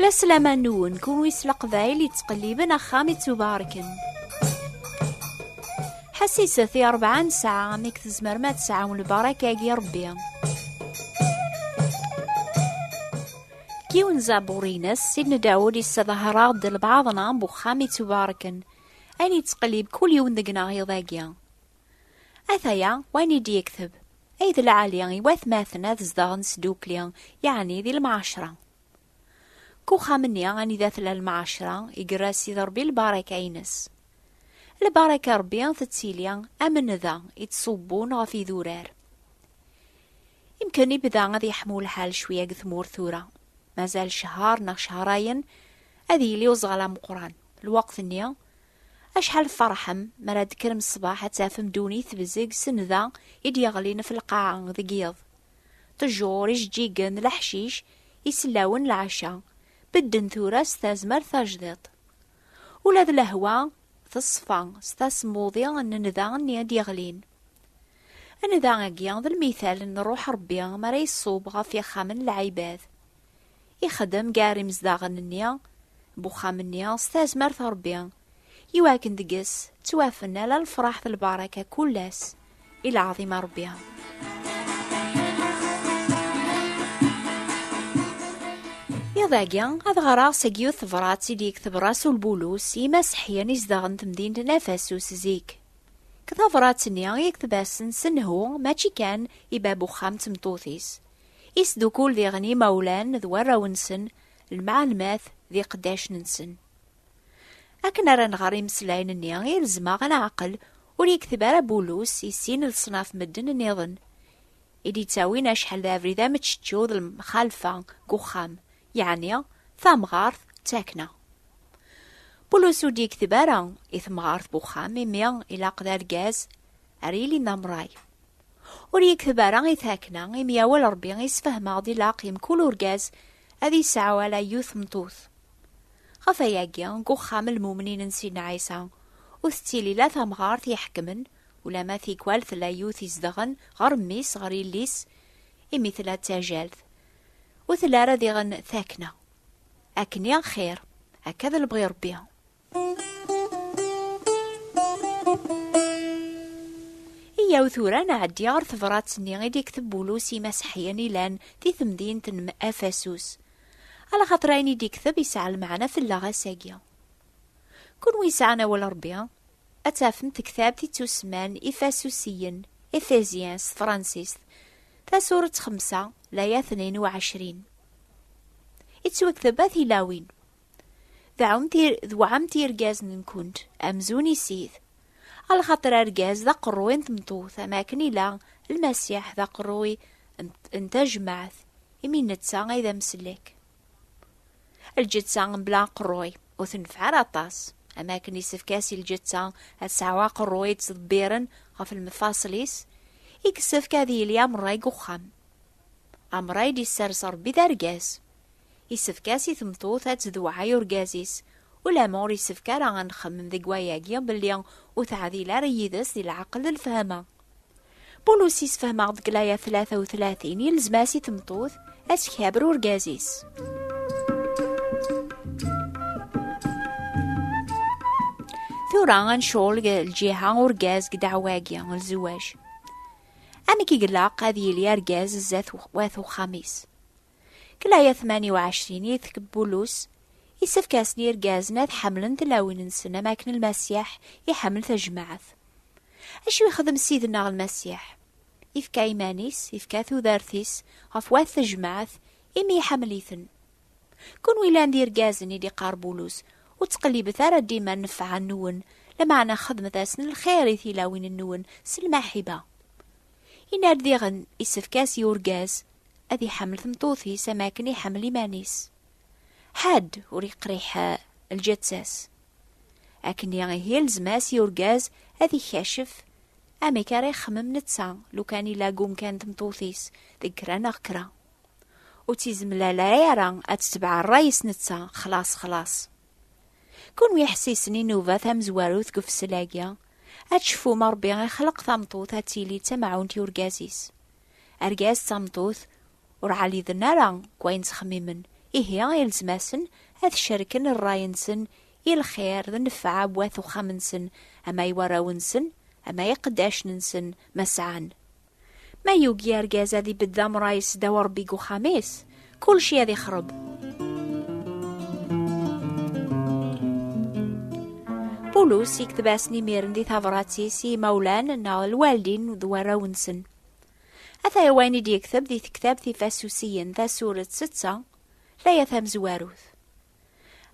La slama nwen, kunwi s leqbayel yettqelliben axxam ittubarken. Ḥassiset i rebɛa nesɛa amek tzemrem ad tesɛum lbarak-agi Rebbi. Yiwen zaburin-as, Sidna Dawud yessedher-aɣ-d lbaɛḍ-na n uxxam ittubarken. Ayen yettqellib kul yiwen deg-neɣ iḍ-agi. Ataya wayen i d-yekteb, ay d lɛali i watmaten ad zedɣen sdukli, yeɛni di lemɛacra. Deg uxxam-nni anida tella lemɛacra, igerra Sidi Ṛebbi lbaraka-ines. Lbaraka n Ṛebbi tettili am nnda i ttṣubbun ɣef idurar. Imken ibda ad yeḥmu lḥal cwiya deg tmurt tura, mazal cehher neɣ cehrayen ad yili uẓɣal ameqqran, lweqt-nni Acḥal tferḥem mi ara d-tekkrem ṣṣbeḥ ad tafem ddunit tebzeg sennda i d-yeɣlin ɣef lqaɛa deg yiḍ. Ṭejjur, ijeǧǧigen, leḥcic, isellawen, lɛecca, bedden tura s tazmert tajdiṭ. Ula d lehwa teṣfa s tasmuḍi n nnda-nni i d-yeɣlin. Nnda-agi d lmital n Ṛṛuḥ Ṛebbi mi ara iṣub ɣef ixxamen n lɛibad. ixdem gar imezdaɣen-nni n uxxam-nni s tazmert n Rebbi, iwakken deg-s ttwafen ala lefraḥ d lbaraka kull ass i lɛaḍim a Rebbi. Iḍ agi ad ɣreɣ seg yiwet tebrat i d-yekteb Rasul Bulus i imaseḥyen izedɣen temdint n Afasus zik. Deg tabrat-nni i yekteb-asen s nnhu mačči kan i bab uxxam d tmeṭṭut-is, Isdukul diɣen imawlan d warraw-nsen, lemɛalmat d iqeddacen-nsen. Akken ara nɣer imeslayen-nni i rezmeɣ a leɛqel, ur yekteb ara Bulus i sin leṣnaf medden nniḍen, i d-yettawin acḥal d abrid ameččečču d lemxalfa deg uxxam, yeɛni tamɣart d takna. Bulus ur d-yekteb ara i temɣart n uxxam, imi ilaq d argaz ara yilin d amray. Ur yekteb ara i takna, imi yawal Rebbi i sfehmeɣ d ilaq i mkul urgaz ad yesɛu ala yiwet tmeṭṭut. Ɣef wayagi, deg uxxam n lmumnin n Sidna Ɛisa, ur tettili la tamɣart iḥekmen, ulamma tikwal tella yiwet izedɣen ɣer mmi-s, ɣer yelli-s, imi tella d tajalt. Ur telli ara diɣen takna. Akken i axir, akka d lebɣi Rebbi. Iyaw tura nɛeddi ɣer tebṛat-nni i d-ikteb Bulus i Mass Ḥyan ilan di temdint n Afasus. Ala xaṭer ayen i d-ikteb yesɛa lmeɛna fell-aɣ ass-agi. Kunwi yesɛan awal n Ṛebbi, ad tafem tektabt i ttusemman Ifasusiyen, Ephésiens, s tefransist, tasuret xemsa, laya tnin u ɛecrin. Ittwekteb At Ilawin. Tewɛam tirgazen-nkent amzun isid. A lxaṭer argaz d aqerruy n tmeṭṭut, am akken ila Lmasiḥ d aqerruy n tajmaɛt, imi netta ay d amsellek. Lǧetta mebla aqerruy ur tenfeɛ ara aṭas, am akken isefk-as i lǧetta ad tesɛu aqerruy i ttḍebbiren ɣef lmefaṣel-is, i yessefk ad yili am rray deg uxxam. Am rray d-isers Rebbi d argaz, Yessefk-as i tmeṭṭut ad tdewɛay urgaz-is. Ulamma ur yessefk ara ad nxemmem deg wayagi belli ur teɛdil ara yid-s di leɛqel d lefhama. Pulus yessefhem-aɣ-d deg layat tlata u tlatin yelzem-as i tmeṭṭut ad tkaber urgaz-is. Tura ad ncɣel deg lǧiha urgaz deg ddeɛwa-agi n lzewaj. Amek i ilaq ad yili argaz zdat wat uxxam-is? Deg laya 28 i tkeb Bulus, Isefk-asen i yirgazen ad ḥemmlen tilawin-nsen am akken Lmasiḥ iḥemmel tajmaɛt. Acu yexdem Ssid-nneɣ Lmasiḥ? Ifka iman-is, ifka tudert-is ɣef wat tajmaɛt imi iḥemmel-iten. Kunwi yellan d irgazen, i d-iqqar Bulus, ur ttqellibet ara dima nnfeɛ-nwen, lameɛna xedmet-asen lxir i tilawin-nwen s lmaḥiba. Yenna-d diɣen isefk-as i urgaz ad iḥemmel tmeṭṭut-is am akken iḥemmel iman-is. Ḥedd ur iqriḥ lǧeţţa-s. Akkenni ihi ilzem-as i urgaz ad ikacef amek ara ixemmem neţţa lukan ila gumkan tmeṭṭut-is deg kra neɣ kra. Ur ţ-izemlala ara aţ-ţebeɛ ṛṛay-is neţţa xlaṣ xlaṣ. Kunwi iḥessisen inuba tamezwarut deg ufessel-agi, ad tceffum Rebbi ixleq tameṭṭut ad tili d tamɛunt i urgaz-is. Argaz d tameṭṭut ur ɛaliden ara deg wayen ttxemmimen, ihi ilzem-asen ad cerken rray-nsen i lxir d nnfeɛ bu at uxxam-nsen ama i warraw-nsen ama i iqeddacen-nsen ma sɛan. Ma yugi argaz ad ibedd amray sdaw Rebbi deg uxxam-is, kulci ad ixreb. Pulus yekteb-asen imiren di tabrat-is i imawlan neɣ lwaldin d warraw-nsen. Ata wayen i d-yekteb di tektabt ifasusiyen tasuret setta, laya tamezwarut.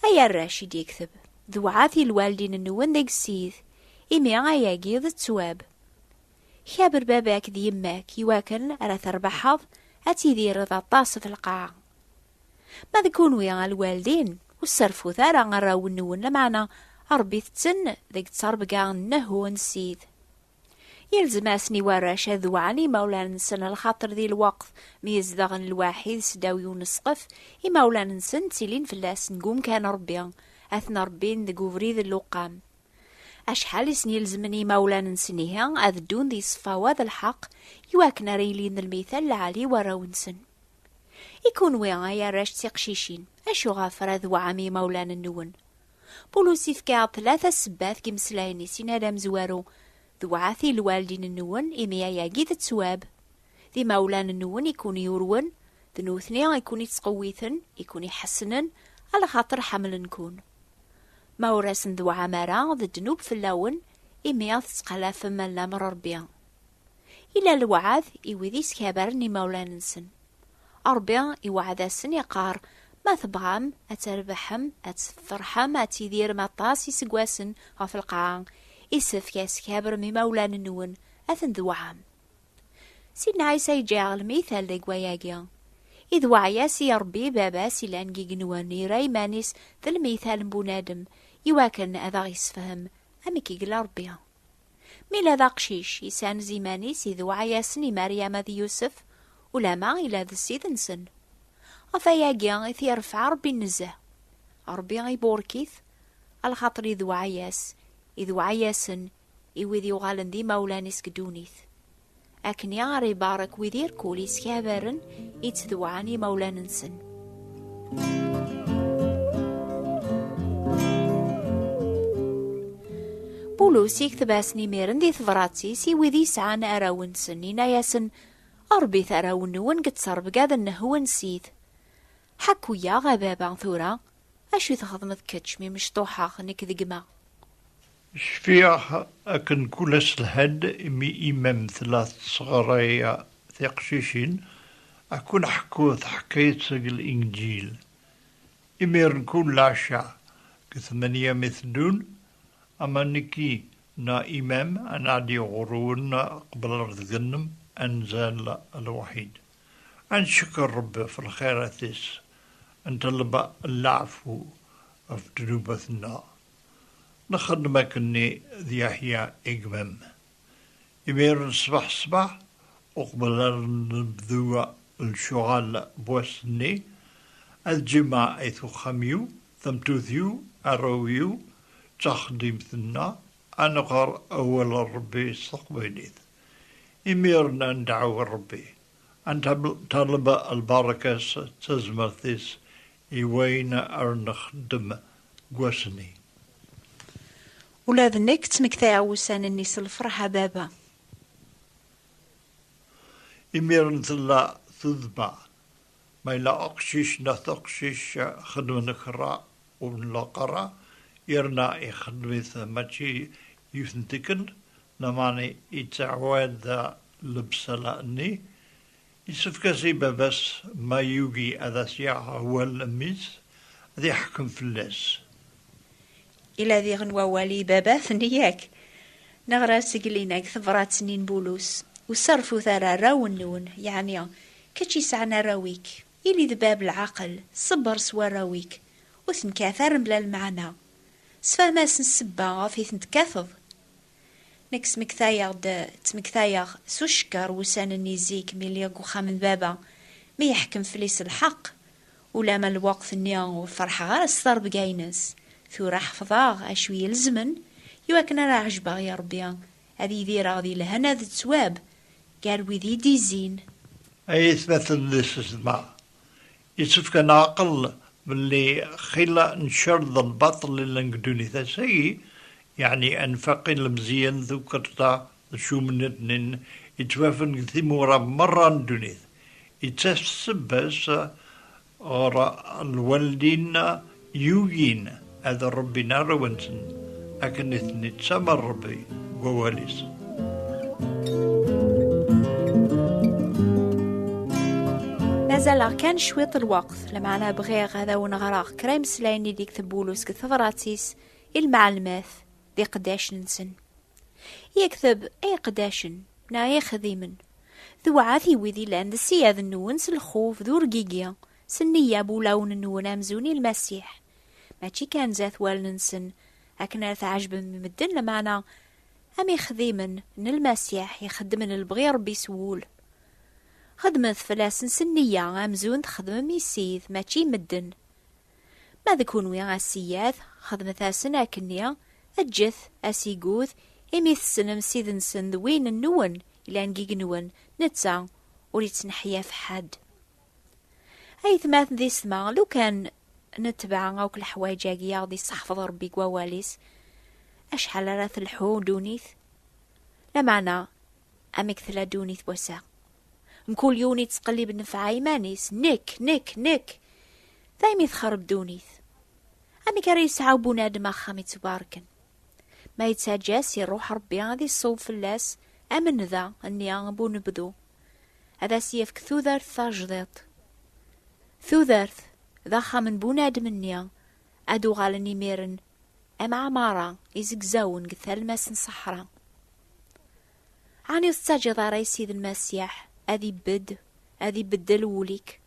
Ay arrac i d-yekteb, dewɛat i lwaldin-nwen deg ssid, imi ayagi d ttwab. Kaber baba-k d yemma-k iwakken ara terbaḥeḍ ad tidireḍ aṭas d lqaɛa. Ma d kunwi a lwaldin, ur sserfut ara arraw-nwen, lameɛna rebbit-ten deg ttrebga n Nehu n Ssid. Yelzem-asen i warrac ad wɛen imawlan-nsen lxaṭer di lweqt mi zedɣen lwaḥid seddaw i unesqef, imawlan-nsen ttilin fell-asen deg umkan n Rebbi, ad ten-rebbin deg ubrid n lewqam. Acḥal i sen-ilezmen i yimawlan-nsen ihi ad ddun di ṣṣfawa d lḥeq i wakken ara ilin d lmital lɛali i warraw-nsen. I kunwi ay arrac d tiqcicin, acuɣef ara tweɛɛam i yimawlan-nwen? Pulus ifka-aɣ-d tlata ssebbat deg yimeslayen-is yenna d amezwaru, Dewɛet i lwaldin-nwen imi ayagi d ttwab. D imawlan-nwen i ken-yurwen, d nutni i ken-ittqewwiten, i ken-iḥessnen, ala xaṭer ḥemmlen-ken. Ma ur asen-dewɛam ara, d ddnub fell-awen, imi ad tettqalafem lamr n Ṛebbi. Ila lewɛad i wid yeskabaren imawlan-nsen. Ṛebbi iweɛɛed-asen, iqqar, Ma tebɣam ad trebḥem, ad tefreḥem, ad tidirem aṭas iseggasen ɣef lqaɛa, isefk ad skabrem imawlan-nwen, ad ten-dewɛam. Sidna Ɛisa yeǧǧa iɣelmi tal deg wayagi. I d waɛya-s i Ṛebbi i Baba-s yellan deg igenwan, yerra iman-is d lmital n bunadem i wakken ad aɣ-yessefhem amek i yella Ṛebbi. Mi yella d aqcic, yessanez iman-is i d waɛya-sen i Maryama d Yusef, ulamma yella d ssid-nsen. Ɣef wayagi i t-iṛefɛa Ṛebbi nezzeh. Ṛebbi iburek-it, a lxaṭer i d waɛya-s, i d waɛya-sen i wid yuɣalen d imawlan-is deg ddunit. Akken i ara ibarek wid irkul iskabaren i ttdewɛan imawlan-nsen. Pulus ikteb-asen imiren di tebrat-is i wid yesɛan arraw-nsen, inna-yasen, Ṛebbit arraw-nwen deg ttrebga-d-nnehwen sit. Ḥakku-yaɣ, a baba, tura, acu i txedmeḍ kečč mi mecṭuḥeɣ nekk d gma. Cfiɣ akken kul ass lhan-d imi imam tella tesɣray tiqcicin akk-n ḥekku taḥkayt seg Linǧil. Imiren kul lɛecca deg tmanya mi teddun, ama nekki neɣ imam ad nɛeddi ɣur-wen qbel ar deg-nnem ad nzal lewḥid. Ad ncekker Rebbi ɣef lxirat-is, ad nṭelleb leɛfu ɣef ddnubat-nneɣ. Nxeddem akkenni d Yeḥya i gma-m. Imiren ṣṣbeḥ ṣṣbeḥ, uqbel ar nebdu lecɣal n wass-nni, ad jemɛit uxxam-iw, tamettut-iw, arraw-iw, d taxeddimt-nneɣ, ad nɣer Awal n Rebbi s teqbaylit. Imiren ad nedɛu Rebbi, ad neṭṭaleb lbaṛaka-s d tazmert-is i wayen ar nexdem deg wass-nni. Ula d nekk ttmektayeɣ wussan-nni s lferḥ a baba. Imiren tella tuddba, ma yella uqcic neɣ taqcict xedmen kra ur nlaq ara, yerna ixeddem-it mačči yiwet n tikkelt, lameɛna yettɛawad lebṣala-nni, Yessefk-as i baba-s ma yugi ad as-yaɣ awal n mmi-s, ad iḥkem fell-as. Yella diɣen wawal i baba-tni, yak? Neɣra-d seg Lina deg tebṛat-nni n Bulus, Ur sserfut ara arraw-nwen, yeɛni kečč yesɛan arraw-ik. Ili d bab lɛaqel, ṣebbeṛ s warraw-ik, ur ten-kkat ara mebla lmeɛna. Sefhem-asen ssebba ɣef i ten-tekkateḍ. Nekk smektayeɣ-d, ttmektayeɣ, s ucekker wussan-nni zik mi lliɣ deg uxxam n baba, mi yeḥkem fell-i s lḥeqq. Ulamma lweqt-nni ur ferḥeɣ ara s terbga-ines. Tura ḥefḍeɣ acu ilezmen i wakken ara ɛejbeɣ i Rebbi, ad idireɣ di lehna d ttwab gar wid i d-izzin. Ay atmaten n lsesma, Yessefk ad neɛqel belli xilla ncer d lbaṭel i llan deg ddunit ass-agi, yeɛni anfaq i lemzeyyen, tukkerḍa d cumnedni yettwafen deg timura merra n ddunit, yettas-d sebba-s ɣer lwaldin Yugin ad rebbin arraw-nsen akken i ten-ittamer Rebbi deg wawal-is. mazal kan cwiṭ lweqt lmeɛna bɣiɣ ad awen-ɣreɣ kra imeslayen ideg tebulu seg tebrat-is i lmeɛlmat d iqeddacen-nsen. Yekteb ay iqeddacen neɣ ay ixdimen, tewɛa i wid yellan d ssyad-nwen s lxuf d urgigi S nniya n wulawen-nwen amzun i Lmasiḥ, mačči kan zdat wallen-nsen, akken ara tɛejbem i medden, lameɛna am ixdimen n Lmasiḥ ixeddmen lebɣi n Ṛebbi s wul. Xedmet fell-asen s nniya amzun txedmem i Ssid, mačči i medden. Ma d kenwi, a ssiyad, xedmet-asen akkenni, eǧǧet asigud, imi tessnem Ssid-nsen d win-nwen yellan deg-nwen, netta ur ittneḥyaf ḥedd. aytmaten di setma lukan netbeɛ akk leḥwaǧ-agi aɣ-d isseḥfeḍ Rebbi deg wawal-is acḥal ara telḥu ddunit lameɛna amek tella ddunit n wass-a mkul yiwen yettqellib nnefɛa iman-is nekk nekk nekk daymi texreb ddunit amek ara yesɛu bunadem axxam yettbarken Ma yettaǧǧa-s iruḥ Ṛebbi ad iṣṣub fell-as am nnda nni n unebdu, ad as-yefk tudert tajdiṭ. Tudert d axxam n bunadem-nni, ad uɣalen imiren am ɛmara izegzawen deg talmas n ṣṣeḥra. Ɛni ur tettaǧǧiḍ ara i Ssid Lmasiḥ ad ibedd, ad ibeddel wul-ik?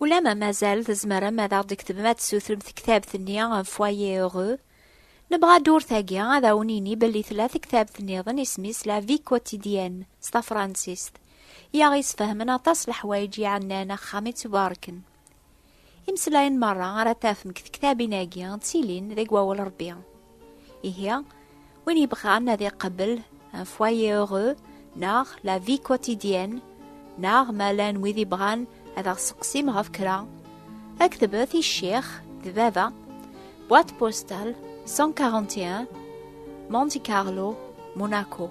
Ulama mazal tzemrem ad aɣ-d-tektbem ad tessutrem tektabt-nni Foyer Heureux. Nebɣa ddurt-agi ad awen-ini belli tella tektabt-nniḍen isem-is La Vie Quotidienne s tafransist, i aɣ-isfehmen aṭas leḥwayeǧ iɛennan axxam i tt-barken. Imeslayen merra ara tafem deg tektabin-agi ttilin deg wawal Rebbi. Ihi, win yebɣan ad iqebbel un foyer heureux neɣ la vie quotidienne neɣ ma llan wid yebɣan ad aɣ-seqsim ɣef kra, aktbet i ccix d baba, boîte postale 141, Monte Carlo, Monaco.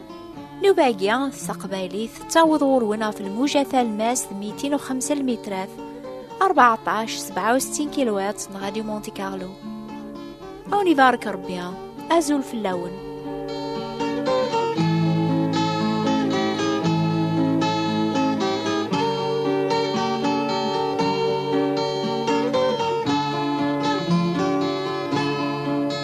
Nubagi, s taqbaylit, tettaweḍ ɣur-wen ɣef lmuja talmast 205 lmitrat, 14-67 kilowat n Radio Monte Carlo. Awen ibarek Rebbi, azul fell-awen.